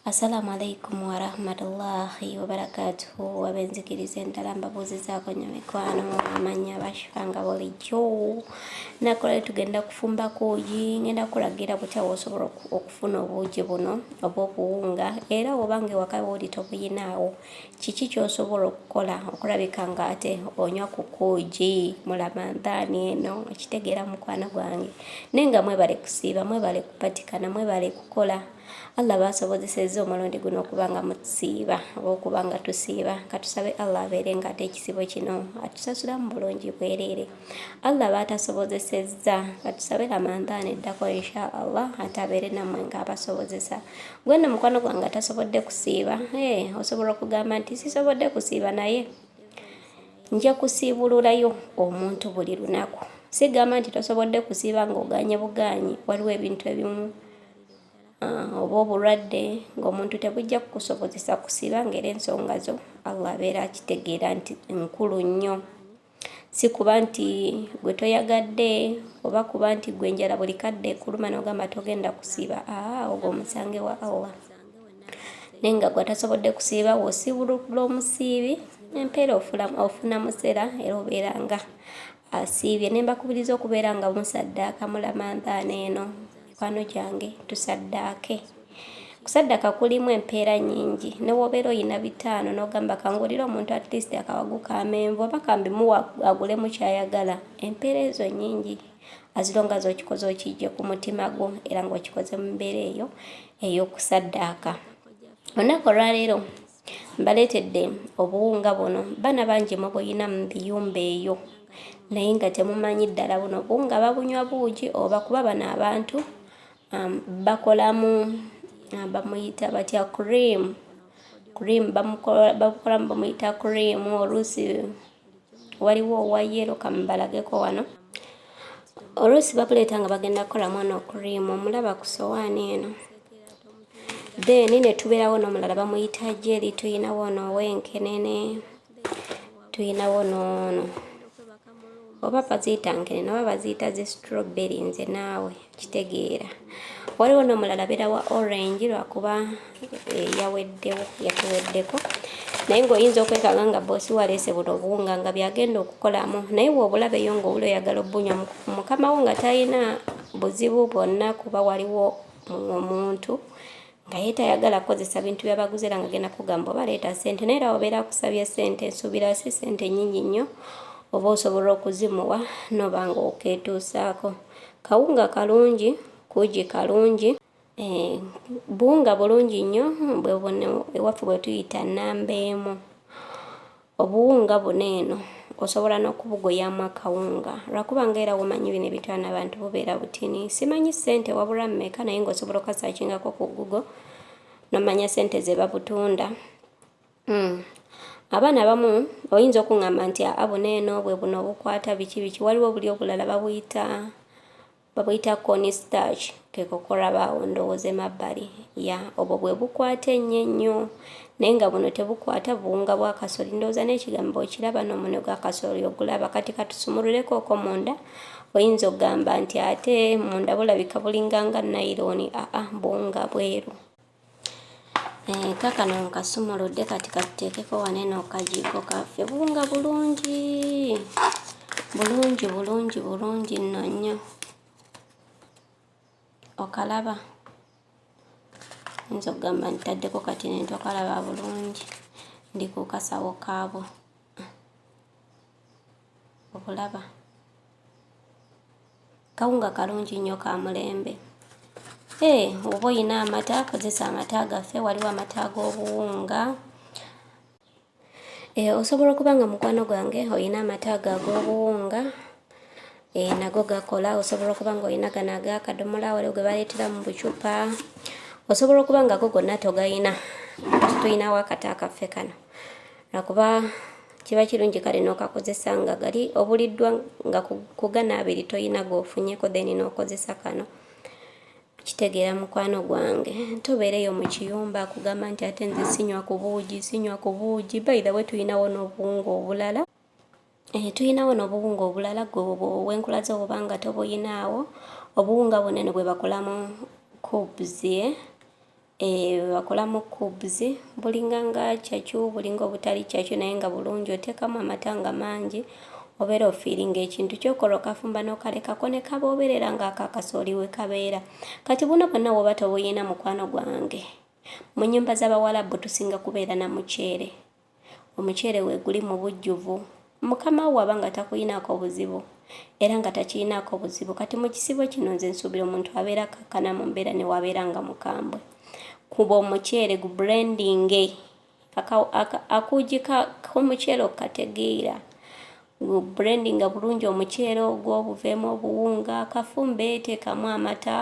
Assalamu alaikum warahmatullahi wabarakatuhu wabenzikiriza endala mbabuuzizaako nnyo mikwano amanya bashifa nga bulijjo nakola tugenda kufumba kuugi ngenda kulagira butya wosobola okufuna obuugi buno oba obuwunga era obanga ewaka wooli tobuyinaawo Kiki ky'osobola okukola okulabika ng'ate onywa ku kuugi mu Lamandaani eno? Okitegeera mukwano gwange. Naye nga mwebale kusiiba, mwebale kupatikana, mwebale kukola. Allah baasobozesezza omulundi guno okuba nga mutusiiba oba okuba nga tusiiba. Katusabe Allah abeere ng'ate ekisibo kino atusasulamu bulungi bwereere. Allah baatasobozesezza katusabe ramadhan eddako insha allah ate abeere nammwe ng'abasobozesa gwe nno mukwano gwange atasobodde kusiiba ee osobola okugamba nti sisobodde kusiiba naye nja kusiibululayo omuntu buli lunaku sigamba nti tosobodde kusiiba ng'oganye buganye waliwo ebintu ebimu Ah, oba obulwadde ng'omuntu tebujja kukusobozesa kusiba ng'era ensonga zo allah abeera akitegeera nti nkulu nnyo si kuba nti gwe toyagadde oba kuba nti gwe enjala buli kadde kuluma nogamba togenda kusiiba aa ogwo omusange wa awa naye nga gwe atasobodde kusiiba wosiibulula omusiibi empeera ofuna musera era obeera nga asiibye ne mbakubiriza okubeera nga musaddaaka mulamandaana eno mikwano gyange tusaddaake kusaddaka kulimu empeera nyingi newobeera oyina bitaano nogamba kangulire omuntu at least akawagu ka menvu oba kambimuwa agulemu kyayagala empeera ezo nyingi azilonga zokikoze okijje ku mutima gwo era ngaokikoze mu mbeera eyo eyokusaddaaka olunaku olwaleero mbaleetedde obuwunga buno bana bangi mubuyina mu biyumba eyo naye nga temumanyi ddala buno buwunga babunywa buugi oba kuba bano abantu um, bakolamu um, bamuyita batya cream cream babukolamu bamuyita cream oluusi waliwo owa yero kamubalageko wano oluusi babuleeta nga bagenda kukola mwana okurimu omulaba ku sowaani eno then netubeerawo n'omulala bamuyita jeri tuyinawo ono owenkenene tuyinawo noono oba baziyita nkenene oba baziyita zi strawberry nze naawe kitegeera waliwo nomulala beera wa orange lwakuba eh, yaweddewo yatuweddeko naye ngaoyinza okwekanga nga bosi waleese buno obuwunga nga byagenda okukolamu naye wobulabeyo ngaowula oyagala obunywa mukamawo nga talina buzibu bwonna kuba waliwo omuntu nga ye tayagala kukozesa bintu byabaguze era nga genda kugamba oba leeta sente naye era obeera akusabye sente nsuubira si sente nyingi nnyo oba osobola okuzimuwa noba nga okeetuusaako kawunga kalungi kuugi kalungi eh, buwunga bulungi nnyo bwebune ewaffe bwetuyita namba emu Obuwunga buno eno osobola nokubugoyamu akawunga lwakuba nga era womanyi bino ebitwana abantu bubeera butini simanyi sente wabura meka naye nga osobola okasakingako ku google nomanya sente zebabutunda mm. abaana abamu oyinza okungamba nti aa buno eno bwe buno obukwata biki biki waliwo buli obulala babuyita Babuyita corn starch kekokoraba awo ndowoza emabbali ya obwo bwebukwata ennyo ennyo naye nga buno tebukwata buwunga bwa kasoli ndowoza n'ekigambo okiraba n'omunwe gwa kasoli ogulaba kati katusumululeko oko munda oyinza okugamba nti ate munda bulabika bulinga nga nayironi aa buwunga bweru Eh, kakano nkasumuludde kati katuteekeko wano eno kajiiko kaffe buwunga bulungi bulungi bulungi bulungi nno nnyo okalaba nza okugamba ntaddeko kati nentokalaba bulungi ndi ku kasawo kaabwo okulaba kawunga kalungi nnyo ka mulembe ee eh, oba olina amata kozesa amata gaffe waliwo amata ag'obuwunga ee eh, osobola okuba nga mukwano gwange olina amata ago ag'obuwunga ee eh, nago gakola osobola okuba nga olina gano ag'akadomola waliwo ge baleetera mu bucupa osobola okuba nga go gonna togalina tulinawo akata akaffe kano akuba kiba kirungi kale n'okakozesa nga gali obuliddwa nga kugana abiri toyina gwofunyeko then n'okozesa kano kitegeera mukwano gwange tobeereyo mu kiyumba akugamba nti ate nze sinywa ku buugi sinywa ku buugi baitha we tulinawo n'obuwunga obulala eh, tulinawo n'obuwunga obulala gwe wenkula zo oba nga tobuyinaawo obuwunga buno eno bwe bakolamu kubzie eh? Eeh bwebakola mu cubes bulinga nga kyakyu bulinga obutali kyakyu naye nga bulungi otekamu amata nga mangi obera ofiringa ekintu kyokola okafumba nokalekako nekaba oberera nga aka kasooli wekabeera kati buno bwonna woba tobuyina mukwano gwange munyumba zabawalabu tusinga kubeera na muceere omuceere weeguli mu bujjuvu mukama wo aba nga takuyinaako buzibu era nga takiyinaako buzibu kati mu kisibo kino nze nsuubira omuntu abeera akakkana mu mbeera ne wabeera nga mukambwe kuba omuceere gu brandinge akuugi k'omuceere okategeera Blendinga bulungi omuceere ogwo buveemu obuwunga kafumbe teekamu amata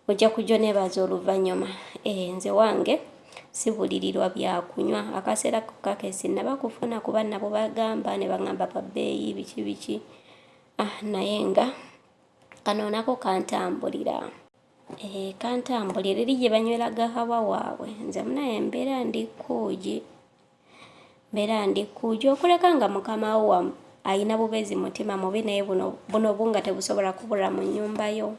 ojja kujja oneebaaza oluvannyuma ee eh, nze wange sibulirirwa byakunywa akaseera kokka ke sinnaba kufuna kuba nabo bagamba ne baŋamba pa bbeeyi biki biki ah naye nga kano nako kantambulira ee eh, kantambulira eri gye banywera gahawa waabwe nze munaye embeera ndi kuugi Mbera ndi kuja okuleka nga mukama wo wa ayina bubezi mutima mubi naye buno buno bunga tebusobola kubula mu nyumba yo.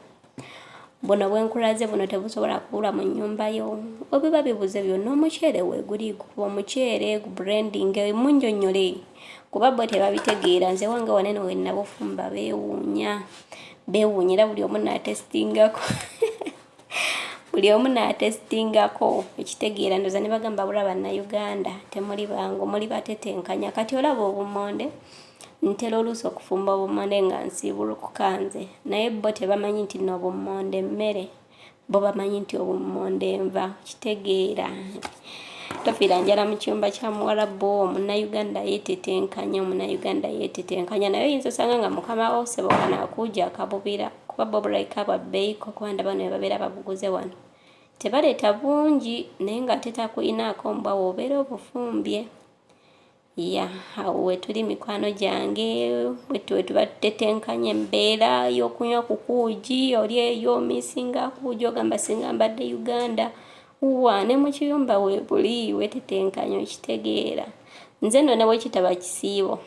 Buno bwenkulaze buno tebusobola kubula mu nyumba yo. Obiba bibuze byo no muchere we guli ku muchere ku branding e munjo nyole. Kuba bo tebabitegeera nze wange wanene we nabufumba bewunya. Bewunyira buli omunna testinga ko. buli omu n'atesitingako ekitegeera ndoza ne bagamba bula bannayuganda temuli bangu muli batetenkanya kati olaba obumonde ntera oluusi okufumba obumonde nga nsiibulukuka nze naye bo tebamanyi nti no obumonde mmere bo bamanyi nti obumonde nva kitegeera tofiira njala mu kyumba kya muwalabu omunnayuganda yeetetenkanya omunnayuganda yeetetenkanya naye oyinza osanga nga mukama wo sebo kanakuuja akabubira kuba bo bulaika bwa bbeeyi ko kuba ndaba bano bebabeera babuguze wano tebaleeta bungi naye nga ate takuyinaako mbwa wobeera obufumbye ya awo wetuli mikwano gyange wetuba tutetenkanya embeera y'okunywa ku kuugi oli eyo misinga kuugi ogamba singa mbadde uganda wa ne mu kiyumba webuli wetetenkanya okitegeera nze no nawe kitaba kisiibo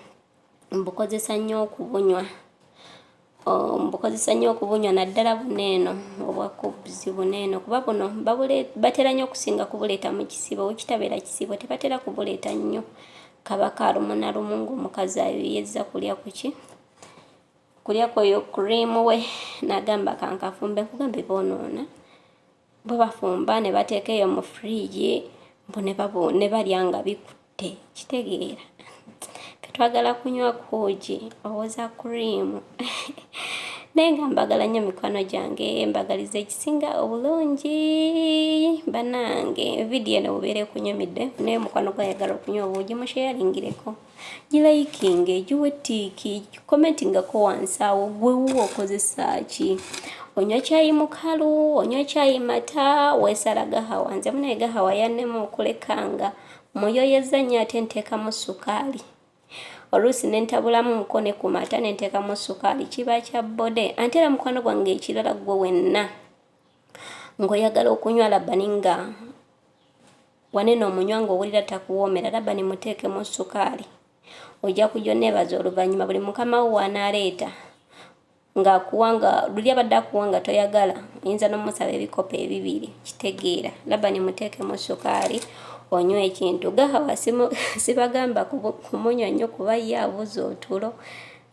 mbukozesa nnyo okubunywa oh, mbukozesa nnyo okubunywa naddala buno eno obwa cubs buno eno kuba buno batera nnyo okusinga kubuleeta mu kisibo wekitabeera kisibo tebatera kubuleeta nnyo kabaka alumu na lumu ngaomukazi ayoyezza kulya kuki kulya kweyo cream we nagamba kankafumbe nkugambe bonoona bo bafumba ne bateeka eyo mu fridge mbu ne babu ne balya nga bikutte kitegeera twagala kunywa kuugi owoza cream naye nga mbagala nnyo mikwano gyange mbagaliza ekisinga obulungi banange vidiyo eno bubeera ekunyumidde naye mukwano gwayagala okunywa obuugi musheyalingireko gilayikinge giwe tiiki komentingako wansi awo gwe wuwo okozesa ki onywa kyayi mukalu onywa kyayi mata wesala gahawa nze munaye gahawa yanema okulekanga muyoyeza nnyo ate nteekamu sukaali oluusi nentabulamu muko ne ku mata nenteekamu sukaali kiba kya bode ante era mukwano gwange ekirala gwe wenna ng'oyagala okunywa labani nga wanene omunywa ng'owulira takuwoomera labani muteekemu sukaali ojja kujja oneebaza oluvannyuma buli mukama wo w'anaaleeta ng'akuwa nga luli abadde akuwa nga toyagala oyinza n'omusaba ebikopo ebibiri kitegeera labani muteekemu sukaali onywa ekintu gahawa sibagamba kumunywa nnyo kuba ye abuza otulo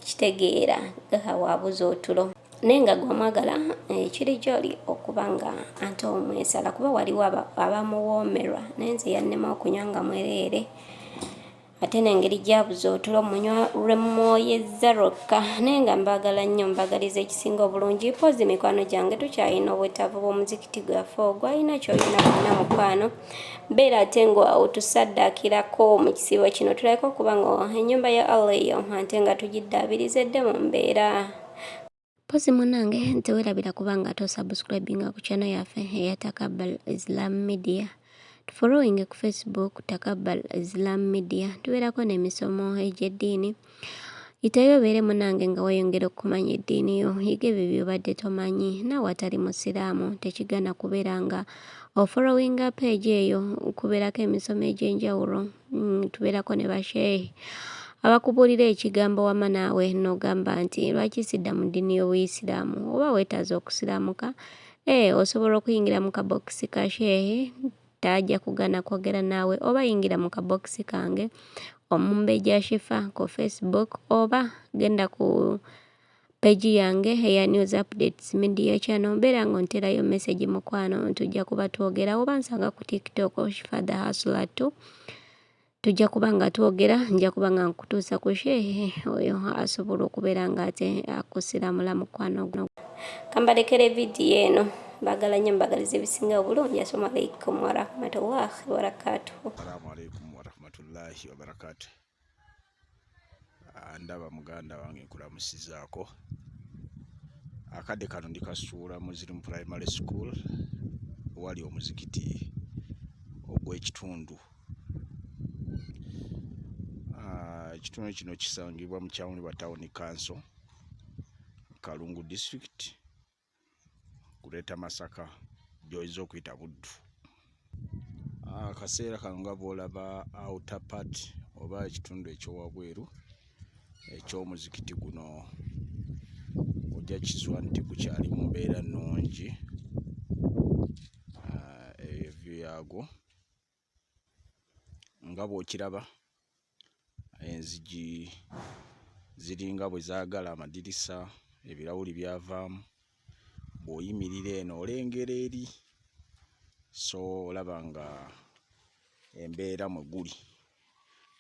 kitegeera gahawa abuza otulo naye nga gwamwagala eh, kiri gyoli okuba nga ante omwesala kuba waliwo abamuwoomerwa naye nze yannema okunywa nga mwereere ate nengeri gyabuza otulo munywa lwemwoyezza lwokka naye nga mbaagala nnyo mbagaliza ekisinga obulungi poozi mikwano gyange tukyalina obwetaavu bw'omuzikiti gwaffe ogwalina kyolina kulina mukwano mbeera ate nga otusaddaakirako mu kisiibo kino tulabeka okuba nga ennyumba ya allah eyo ate nga tugiddaabiriza edde mu mbeera Pozi munange nti werabira kubanga to subscribinga ku channel yaffe eya Takabbal Islam Media. Tufollowinge ku Facebook Takabbal Islam Media. Tubeerako n'emisomo egy'eddiini. Yitayo obeere munange nga weyongera okumanya eddiini yo. Yiga ebyo by'obadde tomanyi. Naawe atali Musiraamu tekigana kubeera nga ofollowinga page eyo kubeerako emisomo egy'enjawulo. Mm, tubeerako ne basheehi abakubuulira ekigambo wama naawe n'ogamba nti lwaki sidda mu ddiini y'obuyisiraamu oba weetaaze okusiraamuka ee eh, osobola okuyingira mu kabokisi ka sheehi tajja kugaana kwogera naawe oba yingira mu kabokisi kange omumbeja shifa ku facebook oba genda ku page yange eya news updates media channel mbeera nga onterayo message mukwano tujja kuba twogera oba nsanga ku tiktok shifa the hustler too tujja kuba nga twogera nja kuba nga nkutuusa ku shehe oyo asobola okubeera nga ate akusiramula mukwano guno kambalekere vidiyo eno bagala nnyo mbagaliza ebisinga obulungi asalamu alaikum warahmatullahi wabarakatuhu Ah, ndaba muganda wange nkulamusizaako akadde kano ndi kasuula muslim primary school wali omuzikiti ogw'ekitundu ah, ekitundu kino kisangibwa mu kyawuni wa tawuni kanso kalungu district kuleeta masaka gyoyinza okuyita buddu ah, akaseera kano nga bwolaba outer part oba ekitundu ekyowabweru ekyomuzikiti guno ojja kizwa nti gukyali mu mbeera nnungi ah, ebyo yaagwo nga bw'okiraba enzigi ziringa bwe zaagala amadirisa ebirawuli byavaamu bw'oyimirira eno olengera eri so olaba nga embeera mwe guli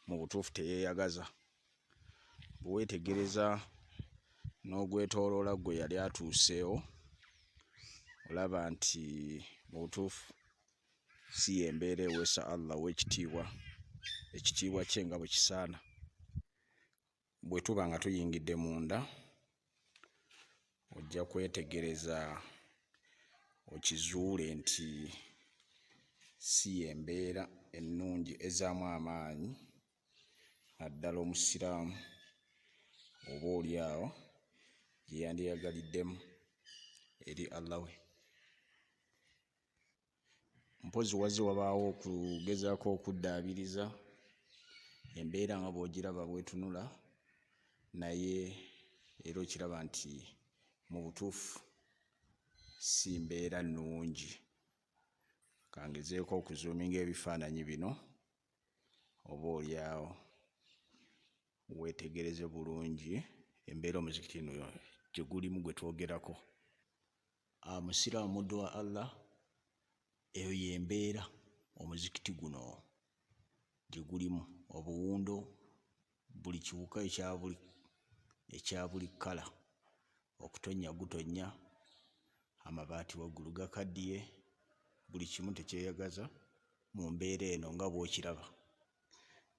mu butuufu teyeeyagaza bwe weetegereza n'ogwetooloola gwe yali atuuseewo olaba nti mu butuufu si yembeera eweesa allah owekitiibwa ekitiibwa kye nga bwekisaana bwetuba nga tuyingidde munda ojja kwetegereza okizuule nti si yembeera ennungi ezaamu amaanyi naddala omusiraamu oba oli awo gyeyandiyagaliddemu eri allah we mpozi wazze wabaawo okugezaako okuddaabiriza embeera nga bw'ogiraba bwetunula naye era okiraba nti mu butuufu si mbeera nnungi kangezeeko okuzuuminga ebifaananyi bino oba olyawo weetegereze bulungi embeera omuzikiti no gye gulimu gwe twogerako ah, musiraamu muddu wa allah eyo yembeera omuzikiti guno gye gulimu obuwundo buli kiwuka ekyabuli ekyabuli kkala okutonnya gutonnya amabaati waggulu gakaddiye buli kimu tekyeyagaza mu mbeera eno nga bw'okiraba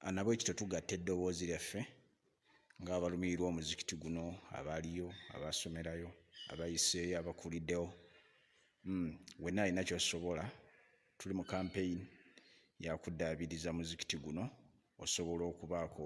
Ah, nabwe kityo tugatta eddoboozi lyaffe ng'abalumirirwa omuzikiti guno abaaliyo abaasomerayo abayiseeyo abakuliddewo hmm, wenna alina kyosobola tuli mu kampeyini yakuddaabiriza muzikiti guno osobola okubaako